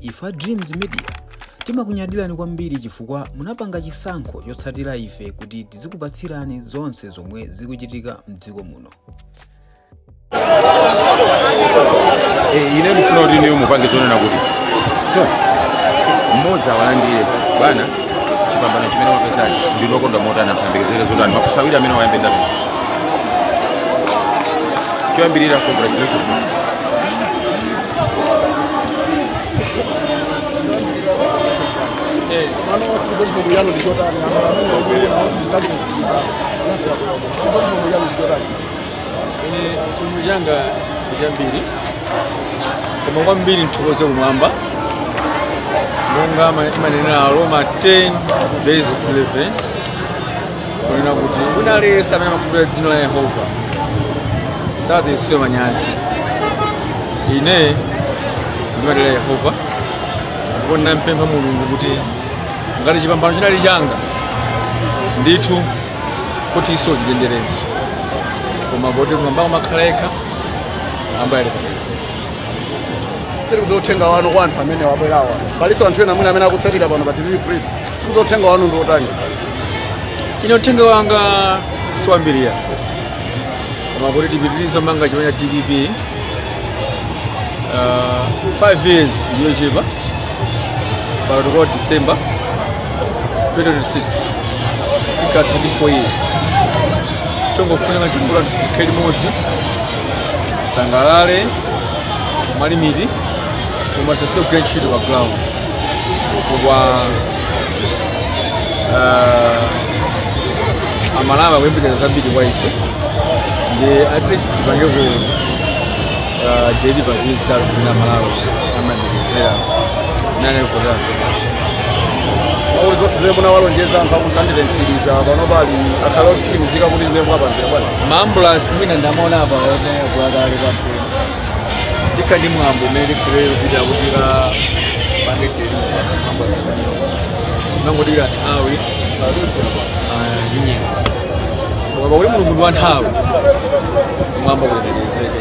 Ife a Dreams Media timakunyadirani kwambiri chifukwa munapanga chisankho chotsatira ife kuti tizikupatsirani zonse zomwe zikuchitika mdziko muno. Eh, ine ndifuna kuti inuyo mupange zonena kuti "Huh, mmodzi mwalandira bwana chipambano chimene mwapeza ndinu okondwa motani anthu ayembekezere zotani mafunso awiri amene tayamba ndatu choyambirira congratulations ine chinthu changachi si chambiri koma kwambiri ndithokoze kumwamba monga imanenera aroma 10 verse 11 kunena kuti wina aliyense amene amakhulupirira dzina la yehova sadzachititsidwa manyazi ine ndimadalira yehova ndipo ndinampempha mulungu kuti ngati chipambano chinali changa ndithu achite zisonyezo koma poti kumwambako amakhala yekha Ambuye ali panja tsikuli uthenga wanu kwa anthu amene abwerawa palinso anthu ena mwina amene akutsatira pano pa tv press Tsikuli uthenga wanu ndi otani? Ine uthenga wanga siwambiri koma kuti tipitirize kumanga chipani cha dpp uh, five years ndi yochepa pano tikakwana december 2026 tikatsala ndi four years chongofunika chachikulu ndi tikhale limodzi tisangalale mwa limit koma osasiya kugwira ntchito pa ground chifukwa ah, amalawi akuyembekeza zambiri kwa ife ndi at least tipangeko ah, jedi pa zimene zitatu zimene amalawi amayembekezera zimenezo zathu Mawu zonse zimene munawalonjeza anthu ndikwaniritsa pano pali akhale otsimikizika kuti zimene mwapangira bwana maambulasi mwina ndamaona apa otenga kuwakale kwathu tikhala ndi mwambo umene tikhulere kupita kuti tikapange deliver mwambo asakanira tikungodikira nthawi ah, ndi nyengo koma pakuti mulungu ndi wa nthawi kumwamba kulemekezeke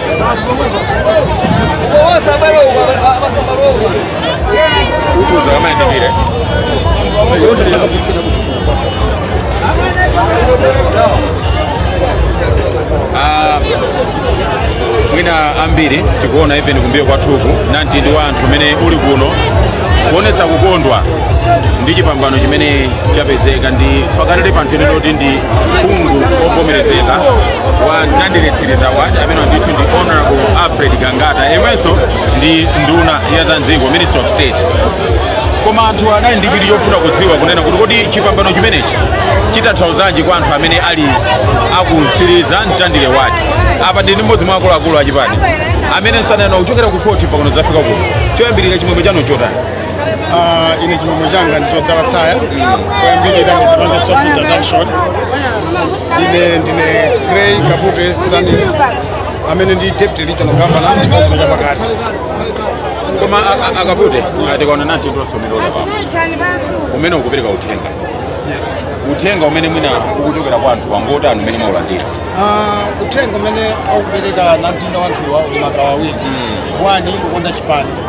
Ah, mwina ambiri tikuona even kumbuyo kwathuku namtindi wa anthu umene uli kuno kuonetsa kukondwa ndi chipambano chimene chapezeka ndipo panali anthu eni oti ndi phungu ovomerezeka wa mtandire mtsiriza waja amene ndithu ndi honorable alfred gangata yemwenso ndi nduna ya za m'dziko minister of state koma anthu anali ndi chidwi chofuna kudziwa kunena kuti kodi chipambano chimenechi chitanthauzanji kwa anthu amene ali aku mtsiriza mtandire wake apa ndili ndi mmodzi mwa akuluakulu a chipani amenenso anayamba kuchokera ku khoti mpakana zafika kuno choyambirira chimwemwe chanu nchotani Ah, ine chimwemwe changa ndichodzala tsaya kuyambirira ndizipande soft introduction ine ndine grey kapute stani amene ndili deputy regional governor chigawo cha pakati koma a- a- akapute tikaona namtindi wa anthu umene ukupereka uthenga uthenga umene mwina ukuchokera kwa anthu ngotani umene mwaulandira Ah, uthenga umene akupereka namtindi wa anthuwa uli pawiri wani kukonda chipani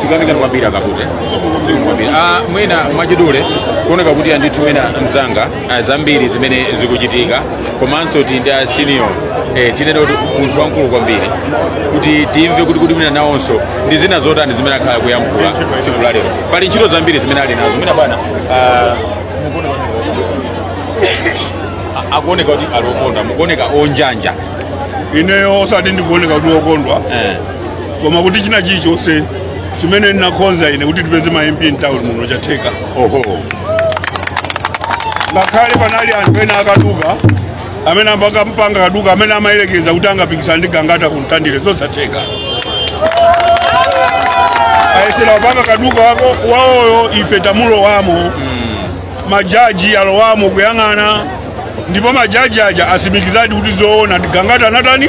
tikuyamikani kwambiri akapute Zikomo kwambiri. Ah, mwina mwachidule kuoneka kuti andithu mwina mzanga ah, zambiri zimene zikuchitika komanso ti ndi asiniyo eh, tinene kuti munthu wamkulu kwambiri kuti timve kuti kuti mwina nawonso ndi zina zotani zimene akhala kuyankhula tsiku la lero pali ntchito zambiri zimene ali nazo mwina bwana ah, mukuona a- akuoneka kuti ali okondwa mukuoneka onjanjama ineyo osati ndikuoneka kuti okondwa eh, koma kuti china chilichonse chimene ndinakonza ine kuti tipeze ma mp mtown muno chatheka oho ngakhale panali anthu ena akaduka amene amapangapanga kaduka amene amayerekeza kuti angapikisana ndi gangata kumtandire zosatheka ayesera kupanga kaduka kawo wawoyo ife lamulo lalowamo majaji alowamo kuyang'ana ndipo majaji aja atsimikizadi kuti zoona ndi gangata anatani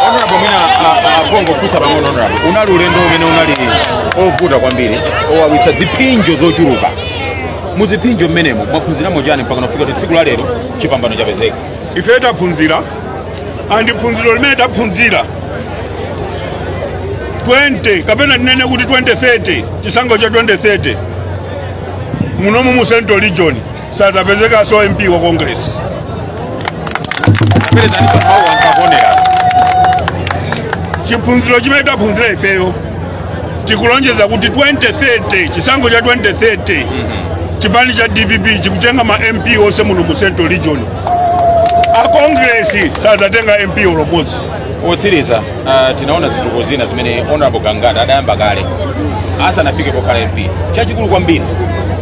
honorable mwina a- a- pongofunsa pang'ono honorable unali ulendo umene unali ovuta kwambiri owawitsa ziphinjo zochuluka mu ziphinjo zimenezo mwaphunziramo chani mpakana kufika kuti tsiku la lero chipambano chapezeka ife taphunzira andi phunziro limene taphunzira 20 kapena tinene kuti 2030 chisankho cha 2030 munomu mu central region sadzapezekanso mp wa congress bwerezaninso mawu anthu akuonera phunziro limene taphunzira ifeyo tikulonjeza kuti 2030 chisankho cha 2030 chipani cha dpp chikutenga ma mp onse muno mu central region a kongresi sadzatenga mp ulomodzi otsiriza ah, tinaona zituko zina zimene honorable gangata adayamba kale asanafike pokhala mp chachikulu kwambiri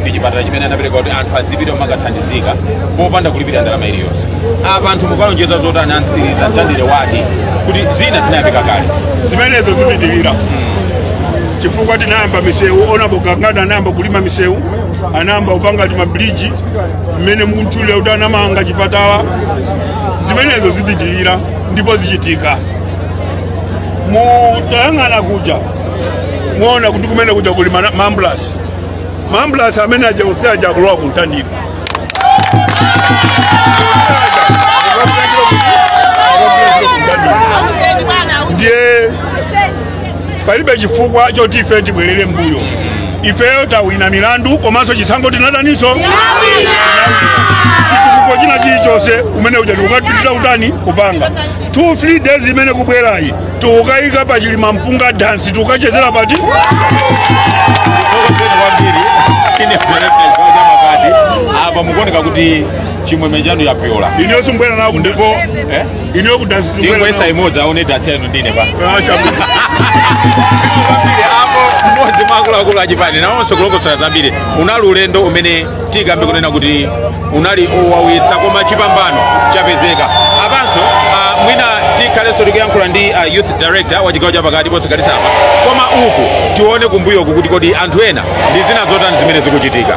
ndi chipatala chimene anapereka kuti anthu adzipita kumakathandizika popanda kulipira ndalama iliyonse apa anthu mukuwalonjeza zotani a mtsiriza mtandire wadi kuti zina zinayambika kale zimenezo zipitirira chifukwa tinayamba misewu onabo gangata anayamba kulima misewu anayamba kupanga timabuliji mmene mukutchulira kuti anamanga chipatala zimenezo zipitirira ndipo zichitika mutayang'ana kuja muona kuti kumene kuja kuli maambulasi maambulasi amene aja onse aja akulowa ku mtandire ndiye palibe chifukwa choti ife tibwerere mbuyo ifeyo tawina milandu komanso chisankho tinawinanso chitukuko china chilichonse umene uja tikukachita kutani kupanga two three days imene kubwerayi tikukayika pa chili mpunga dansi tikukachezera pati Tokopeni kwambiri ine mpelepeni kwa chamakati apo mukuoneka kuti chimwemwe chanu chapyola ineyo simbwera nawo ndipo eh? ino kudasi ndingoyesa imodzi aone dansi yanu ndine pa apo mmodzi mwa akuluakulu achipani nawonso akulongosola zambiri unali ulendo umene tikambe kunena kuti unali wowawitsa koma chipambano chapezeka apanso ah, mwina tikhalenso tikuyankhula ndi ah, youth director wa chigawo chapakati ponse kalisapa koma uku tione kumbuyoku kuti kodi anthu ena ndi zina zotani zimene zikuchitika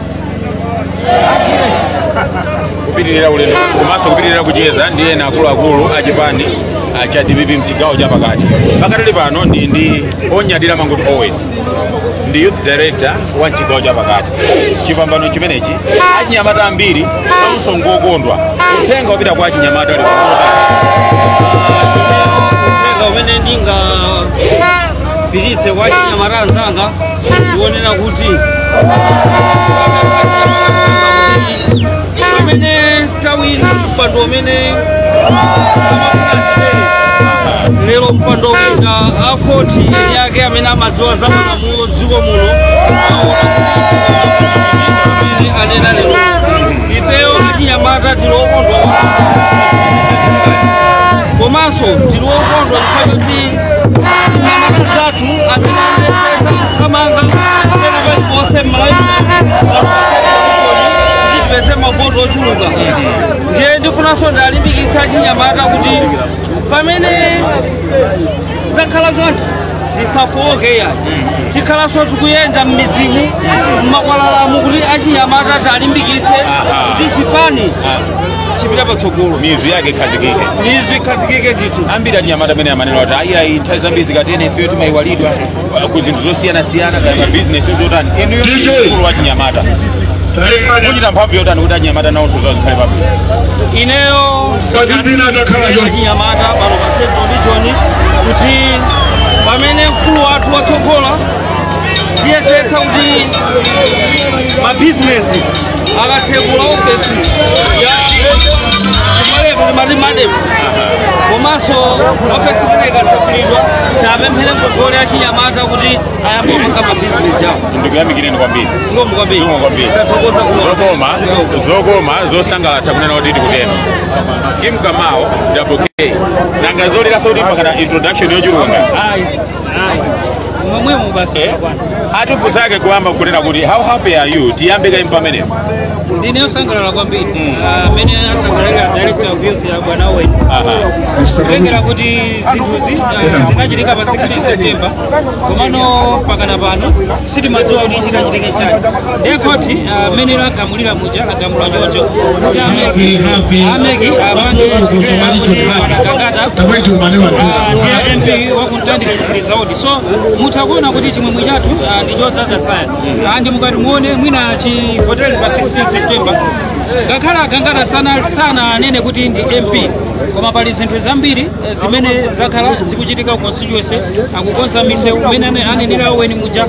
kupitirira ulendo wathu komanso kupitirira kucheza ndi ena akuluakulu a chipani ah, cha dpp mchigawo cha pakati pakadali pano ndi ndi onyadira mangochi owen ndi youth director wa mchigawo cha pakati chipambano chimenechi achinyamata ambiri nawonso ngokondwa uthenga wapita kwa achinyamata ali pamota uthenga umene ndingapititse kwa achinyamata anzanga ndionena kuti mmene tawina mpando umene lero mpando wina akhoti yake amene amadziwa za malamulo dziko muno amene anena lero ifeyo achinyamata tili okondwa komanso tili okondwa chifukwa choti zathu amene anayesesa kuthamanga pena paliponse m'malawi tipeze mavoti ochuluka ndiye ndifunanso ndiwalimbikitse achinyamata kuti pamene zakhala chonchi tisafowoke ya tikhalanso tikuyenda m'midzimu m'makwalalamu kuti achinyamata tiwalimbikitse kuti chipani chipita patsogolo mizu yake ikhazikike mizu ikhazikike ndithu ambiri anyamata amene amanena kuti ayi ayi nthawi zambiri zikatere ifeyo timayiwalidwa uh, ku zinthu zosiyanasiyana kaya mabizinesi zotani inuyo DJ. mkulu wa chinyamata kuchita mphamvu yotani kuti anyamata nawonso zizikhala pabwino ineyo Kazipina atakhala Ineyo choncho. chinyamata pano pa central region kuti pamene mkulu wathu watsogola tiyesetsa kuti mabizinesi akatsekula ofesi ikhalepo timati ma DEM komanso ofesi imene ikatsekulidwa tikapemphere ngongole ya chinyamata kuti ayambe kupanga mabizinesi yawo ndikuyamikireni kwambiri zikomo kwambiri Zikomo kwambiri. tathokoza kuno zokoma zokoma zosangalatsa kunena kuti tikunena kim kamao wk nanga zoliranso kuti pakhala introduction yochuluka ngati ayi momwemo basi Eh? bwana ntifunse kuyamba kunena kuti how happy are you tiyambe kaye pamenepo ndine wosangalala kwambiri Mm. Ah, amene asangalalira director of youth a bwana owen Aha. kutengera kuti zinthuzi ah, zinachitika pa 16 september komano mpakana pano sitinkadziwa kuti chikachitike chani ndiye khoti ah, mmene lagamulira muja lagamula choncho kuti ameki ameki apange a Gangata ndi MP wa ku Mtandire Mtsiriza so mutha kuona kuti chimwemwe chathu ah, ndi chodzadza tsaya Ah, ndiye mukati muone mwina chivotereni pa 16 september ngakhale a Gangata sana- sananenedwe kuti ndi mp koma pali zinthu zambiri zimene zakhala zikuchitika ku constituency akukonza misewu mmene ane- anenera a Owen muja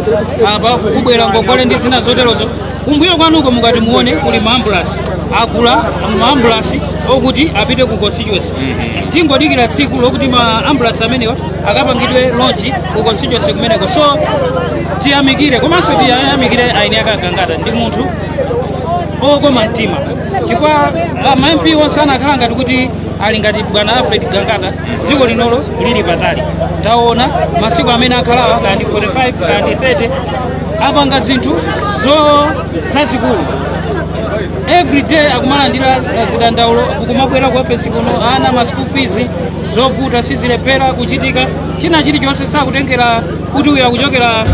apa kubwera ngongole ndi zina zoterozo kumbuyo kwanuko mukati muone kuli maambulansi agula maambulansi okuti apite ku constituency tingodikira tsiku lokuti maambulansi amenewa akapangidwe lonchi ku constituency kumeneko so tiyamikire komanso tiyamikire eni ake a Gangata ndi munthu wokoma mtima chifukwa ma mp onse anakhala ngati kuti ali ngati bwana alfred gangata dziko lino likanali patali taona masiku amene akhalawa kandi 45 kandi 30 apanga zinthu zo zazikulu everyday akumalandira uh, zidandaulo akumabwera ku ofesi kuno ana ma school fees zovuta sizikulephera kuchitika china chilichonse osatengera kuti uyu akuchokera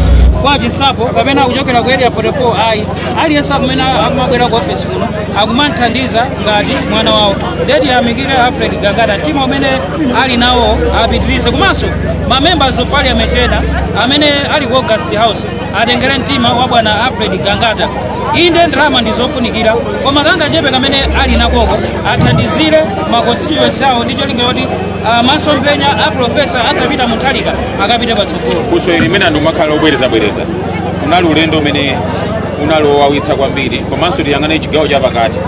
kwa chinsapo kapena akuchokera ku area 44 ayi aliyense amene akumabwera ku ofesi kuno akumamthandiza ngati mwana wawo ndiye tiyamikire alfred gangata mtima umene ali nawo apitirize komanso ma members of parliament ena amene ali ku august house atengere mtima wa bwana alfred gangata inde ndalama ndi zofunikira koma kangachepe kamene ali nakoko athandizire ma constituency awo ndi cholinga choti ah, masomphenya a profesa Arthur Peter Mutharika akapite patsogolo funso ili limene anthu amakhala akubwerezabwereza unali ulendo umene unali wowawitsa kwambiri komanso tikayang'ana chigawo chapakati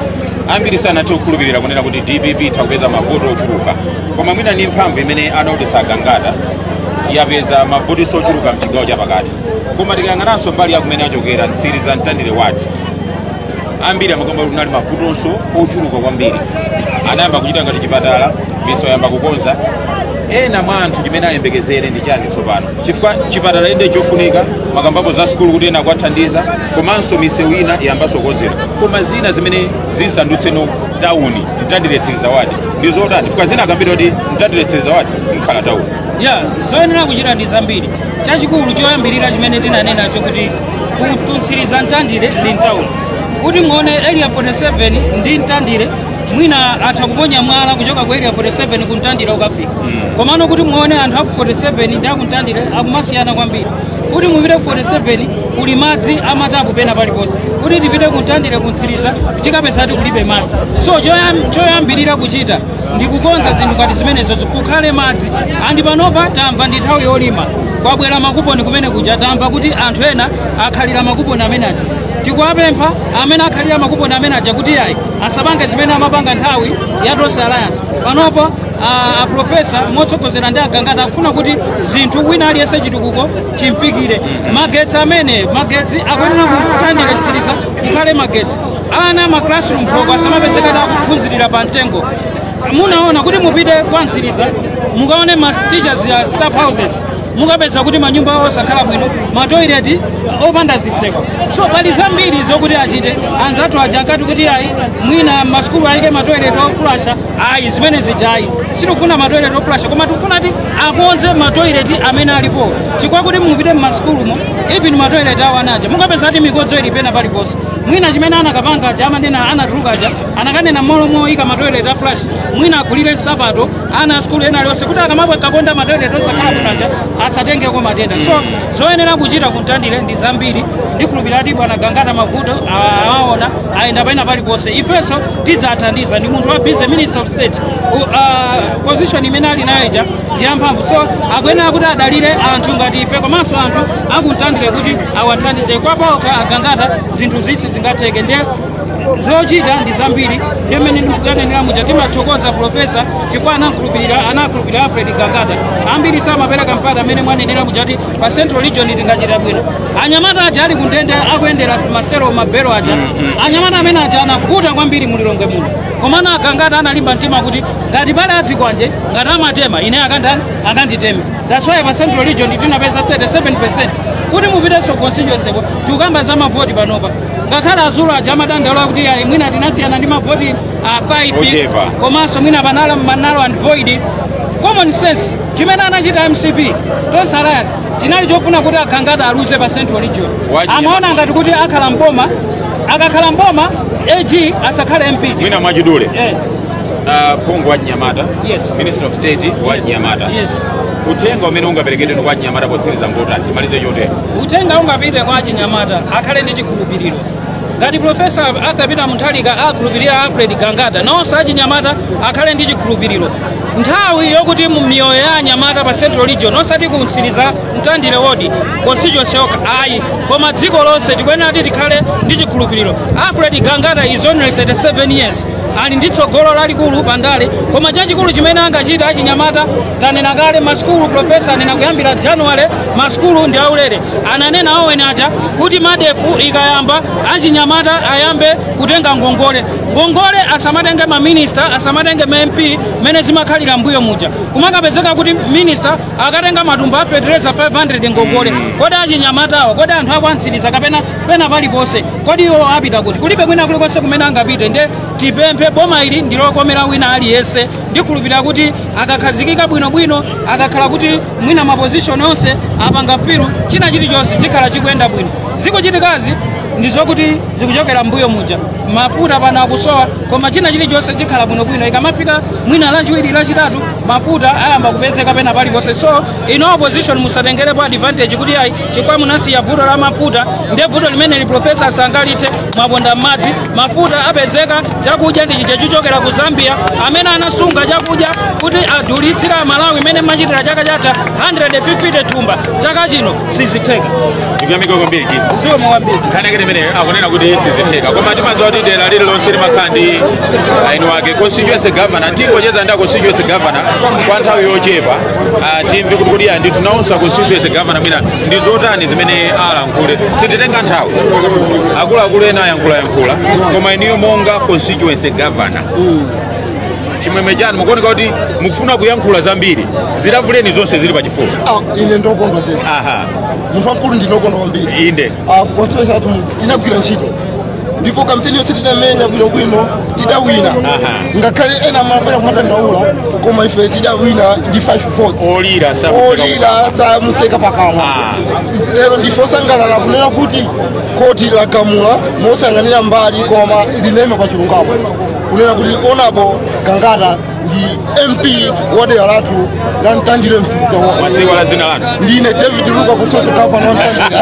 ambiri sanathe kukhulupirira kunena kuti dpp itha kupeza mavoti ochuluka koma mwina ni mphamvu imene anaonetsa agangata yapeza mavotinso ochuluka mchigawo chapakati koma tikayang'ananso mbali yakumene achokera mtsiriza mtandire wadi ambiri amakamba kuti kunali mavutonso ochuluka kwambiri anayamba kuchita ngati chipatala misewu ayamba kukonza ena mwa anthu chimene ayembekezere ndi chani tsopano chifukwa chipatala inde chofunika makambapo za sukulu kuti ena akuwathandiza komanso misewu ina iyambanso kukonzedwa koma zina zimene zisandutseno tawuni mtandire mtsiriza wadi ndi zotani chifukwa zina akambira kuti mtandire mtsiriza wadi mukhala tawuni ya zoyenera kuchita ndi zambiri chachikulu choyambirira chimene tinanenacho kuti kumtsiriza mtandire ndi mtawuni kuti muone area 47 ndi mtandire mwina atha kuponya mwala kuchoka ku area 47 kumtandire ukafika komano kuti muone anthu aku 47 ndi akumtandire akumasiyana kwambiri kuti mupite ku 47 kuli madzi amatapu pena paliponse kuti tipite kumtandire kumtsiriza tikapeza kuti kulibe madzi so choyam- choyambirira kuchita ndi kukonza zinthu ngati zimenezo kukhale madzi andi panopa tamva ndi nthawi yolima kwabwera makuponi kumene kuja tamva kuti anthu ena akhalira makuponi amene aja tikuwapempha amene akhalira makuponi amene aja kuti ayi asapange zimene amapanga nthawi ya tonse alliance panopo a- aprofesa motsogozera ndi agangata akufuna kuti zinthu wina aliyense chitukuko chimfikire magetsi amene magetsi akuyenera kumtandire mtsiriza kukhale magetsi ana ma classroom block asamapezeke ti akuphunzirira pa mtengo munaona kuti mupite kwa mtsiriza mukaone ma teachers ya staff houses mukapeza kuti manyumba osakhala bwino matoileti opanda zitseko so pali zambiri zokuti achite anzathu aja ankati kuti ayi mwina masukulu ayike matoilet oflasha ayi zimene zijayi sitikufuna matoilet oflasha koma tikufuna ti akonze matoilet amene alipo chifukwa kuti mupite mmasukulumo even matoilet awo ana aja mukapeza kuti mikodzo ili pena paliponse mwina chimene anakapanga aja amene anatuluka aja anakanena mmalo moyika matoilet aflash mwina agulire nsapato ana asukulu ena alionse kuti akamakaponda matoilet osakhala bwino aja asatengeko matenda so zoyenera kuchita kumtandire ndi zambiri ndikhulupirira kuti bwana gangata mavuto a- awaona ayenda pena paliponse ifenso tidzathandiza ndi munthu wa business minister of state U- ah, position imene ali nayo ija ndi yamphamvu so akuyenera kuti adalire anthu ngati ife komanso anthu akumtandire kuti awathandize kwa paokha agangata zinthuzi sizingatheke ndiye zochita ndi zambiri ndiye mmene ndinanenera muja timathokoza profesa chifukwa anakhulupirira anakhulupirira alfred gangata ambiri samapereka mpata mmene mwanenera muja ti pa central region tingachita bwino anyamata aja ali kundende akuyendera maselo mabelo aja anyamata amene aja anavuta kwambiri mulilongwe muno komano agangata analimba mtima kuti ngati pali azikwanje ngati amatema ine akandani akanditeme that's why pa central region tinapeza 37 kuti mupitenso constituency tikukamba za mavoti panopa ngakhale azulu aja amadandaula kuti ayi mwina tinasiyana ndi mavoti a 5 Ochepa. komanso mwina panali ma null and void common sense chimene anachita mcp tonse alliance chinali chofuna kuti a gangata aluze pa central region amaona ngati kuti akhala mboma akakhala mboma ag asakhale mp mwina mwachidule uh, phungu wa chinyamata Yes. minister of state wa chinyamata yes uthenga umene ungaperekedwe kwa chinyamata potsiriza kuti timalize chotero uthenga ungapite kwa achinyamata akhale ndi chikhulupiriro ngati profesa arthur peter mutharika akhulupirira alfred gangata nawonso achinyamata akhale ndi chikhulupiriro nthawi yokuti miyoyo ya anyamata pa central region osati ku mtsiliza mtandire wodi constituency yokha ayi koma dziko lonse tikuyenera kuti tikhale ndi chikhulupiriro alfred gangata is only 37 years ali ndi tsogolo lalikulu pa ndale koma chachikulu chimene angachita achinyamata tanena kale masukulu profesa anena kuyambira januwale masukulu ndi aulere ananena aweni aja kuti medf ikayamba achinyamata ayambe kutenga ngongole ngongole asamatenge maminista asamatenge ma mp mmene zimakhalira mbuyo muja kumakapezeka kuti minista akatenga matumba a fetereza 500 ngongole kodi achinyamatawa kodi anthu a kwa mtsiliza kapena pena paliponse kodi iwo apita kuti kulibe kwina kulikonse kumene angapite nde tipemphe boma ili ndilokomera wina aliyense ndikhulupirira kuti akakhazikika bwinobwino akakhala kuti mwina mapozishoni onse apanga filu china chilichonse chikhala chikuyenda bwino zikuchitikazi ndizokuti zikuchokera mbuyo muja mafuta pano akusowa koma china chilichonse chikhala bwinobwino ikamafika mwina lachiwiri lachitatu mafuta ayamba kupezeka pena paliponse so inu opposition musatengerepo advantage kuti ayi chifukwa munasiya vuto la mafuta nde vuto limeneli profesa sangalithe mwaponda m'madzi mafuta apezeka chakudya ndi chija chochokera ku zambia amene anasunga chakudya kuti adulitsire amalawi mmene amachitira chaka chatha 150 thumba chaka chino sizitheka tikuyamika kwambiri kii ziwo mwawambiri nkhani yake imene akunena kuti sizitheka koma timadziwa kuti dera lililonse limakhala ndi eni ake constituency governor tingocheza ndi a constituency governor kwa nthawi yochepa uh, timve kuti kodi anthu nawonso a constituency gavana mwina ndi zotani zimene alankhule sititenga nthawi akuluakulu ena ayankhulayankhula koma inuyo monga constituency gavana chimwemwe chanu mukuoneka kuti mukufuna kuyankhula zambiri zilavuleni zonse zili pachifuwa Ah, ine ndokondwa zedi aha munthu wamkulu ndinokondwa kwambiri inde Ah, constituency yathu inagwira ntchito ndipo kampeni yonse tidamenya bwinobwino tidawina Aha. ngakhale ena amabwera kumadandaula koma ife tidawina ndi 5 votes olira samuseka olira samuseka pakamwa Ah. lero ndife osangalala kunena kuti koti lagamula mosayang'anira mbali koma linayima pa chilungamo kunena kuti onabo gangata ndi mp wa dera lathu la mtandire msiliza wa Tidziwe dzina lanu. ndine david luka kusoso kampani wa mtandire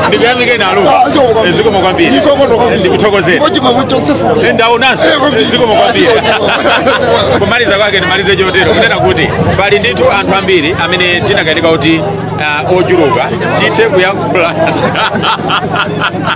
Ndikuyamikeni a Luka. Ah, sio kwa- Zikomo kwambiri. Ndikuthokoza kwambiri. Ndikuthokozeni. Ndipo chimwe kuti chonsefu- Eh, Ndaonanso. Eh, kwambiri. Zikomo kwambiri. Ah, sio, sio. Kumaliza kwake ndimalize chotero kunena kuti pali ndithu anthu ambiri amene tinakanika kuti ah, ochuluka tithe kuyankhula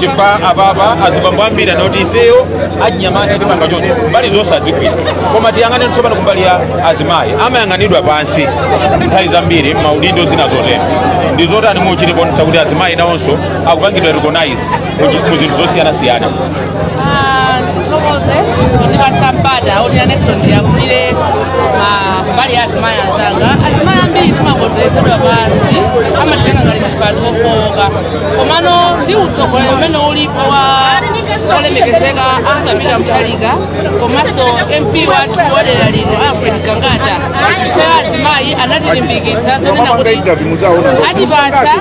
chifukwa apapa azibambo ambiri anati ifeyo achinyamata tipanga chonchi mbali zonse adzigwira koma tiyang'ane tsopano kumbali ya azimayi amayang'anidwa pansi nthawi zambiri maudindo zina zotero ndi zotani muchite kuonetsa kuti azimayi nawonso akupangidwa recognize mu- mu zinthu zosiyanasiyana Ah, ndithokoze pondipatsa mpata oti nanenso ndiyambire ah, mbali ya azimayi anzanga azimayi ambiri timaonedwa pansi amatitenga ngati chipangizo chofowoka komano ndi utsogoleri umene ulipo wa olemekezeka Arthur Peter Mutharika komanso mp wathu wa dera lino alfred gangata ife azimayi anatilimbikitsa zonena kuti atipasa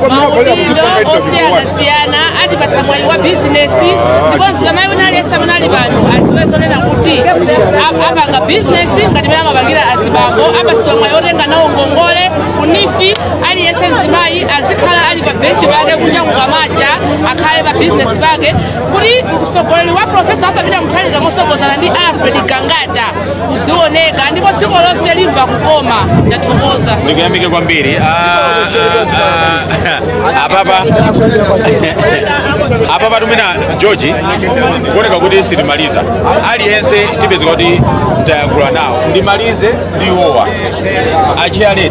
maudindo osiyanasiyana atipatsa mwayi wa bizinesi ndiponso mzimayi wina aliyense amene ali pano adziwe zonena kuti ap- apanga bizinesi ngati mene amapangira azibambo apasidwa mwayi otenga nawo ngongole ku NEEF aliyense mzimayi azikhala ali pa benchi pake kunja kukamacha akhale pa bizinesi pake kuti utsogoleri wa profesa Arthur Peter Mutharika motsogozana ndi alfred gangata uzioneka ndipo dziko lonse limva kukoma ndathokoza ndikuyamikeni kwambiri Ah, ah, ah, apapa apapa mwina george kuoneka kuti sitimaliza aliyense tipezeka kuti tayankhula nawo ndimalize ndi iwowa atiyankhe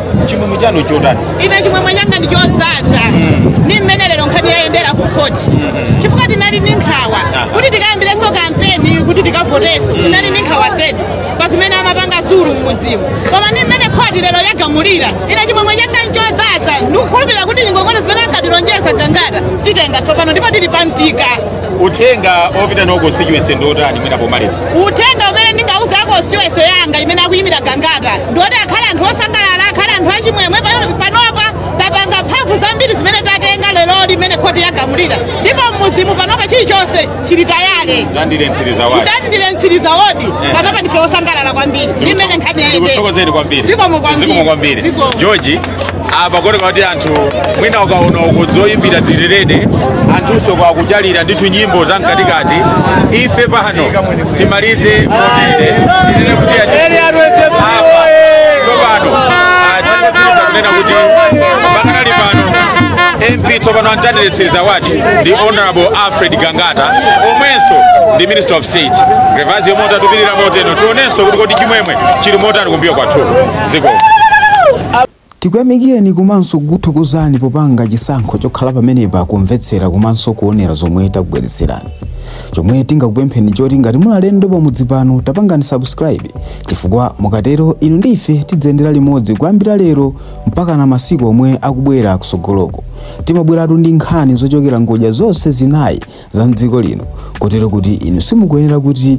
chimwemwe chanu chotani ine chimwemwe changa ndi chodzadza ndi mmene lero nkhani yayendera ku khoti chifukwa tinali ndi nkhawa kuti tikayambirenso kampeni kuti tikavoteso tinali ndi nkhawa zedi pa zimene amapanga zulu mmudzi muno koma ndi mmene khoti lero yagamulira ine chimwemwe changa nchodzadza ndikukhulupirira kuti ngongole zimene ankatilonjeza gangata titenga tsopano ndipo tili pambuyo pake uthenga opita ku constituency ndi otani mwina pomaliza uthenga umene ndingauze a constituency yanga imene akuyimira gangata ndioti akhale anthu osangalala akhale anthu achimwemwe pa- panopa tapanga mphamvu zambiri zimene tatenga leroli imene khoti yagamulira ndipo mmudzi muno panopa chilichonse chili tayale Mtandire mtsiriza ward Mtandire mtsiriza wodi Eh. panopa ndife osangalala kwambiri ndi mmene nkhani yayendera ndikuthokozeni kwambiri zikomo kwambiri Zikomo kwambiri Zikomo. george apa kuoneka kuti anthu mwina ukaona uko zoyimbira zilitere anthunso kwakuchalira ndithu nyimbo za mkatikati ife pano timalize motere tinene kuti ati- apa tsopano ah, tikupitiriza kunena kuti pakanali pano mp tsopano amtani Central tsopano ndi honorable alfred gangata omwenso ndi minister of state levelzi yomwe utatupirira moteno tionenso kuti kodi chimwemwe chili motani kumbuyo kwathu ziko tikuyamikireni komanso kukuthokozani popanga chisankho chokhala pamenepa kumvetsera komanso kuonera zomwe takubweretserani chomwe tingakupempheni choti ngati muli alendo pamudzi pano tapangani subscribe chifukwa mukatero inu ndi ife tidziyendera limodzi kuyambira lero mpaka na masiku omwe akubwera kusogoloko timabweratu ndi nkhani zochokera ngodya zonse zinayi za mdziko lino kotero kuti inu simukuyenera kuti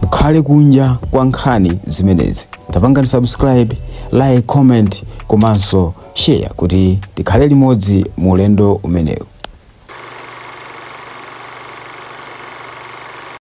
mukhale kunja kwa nkhani zimenezi tapangani subscribe like comment komanso share kuti tikhale limodzi mu ulendo umenewu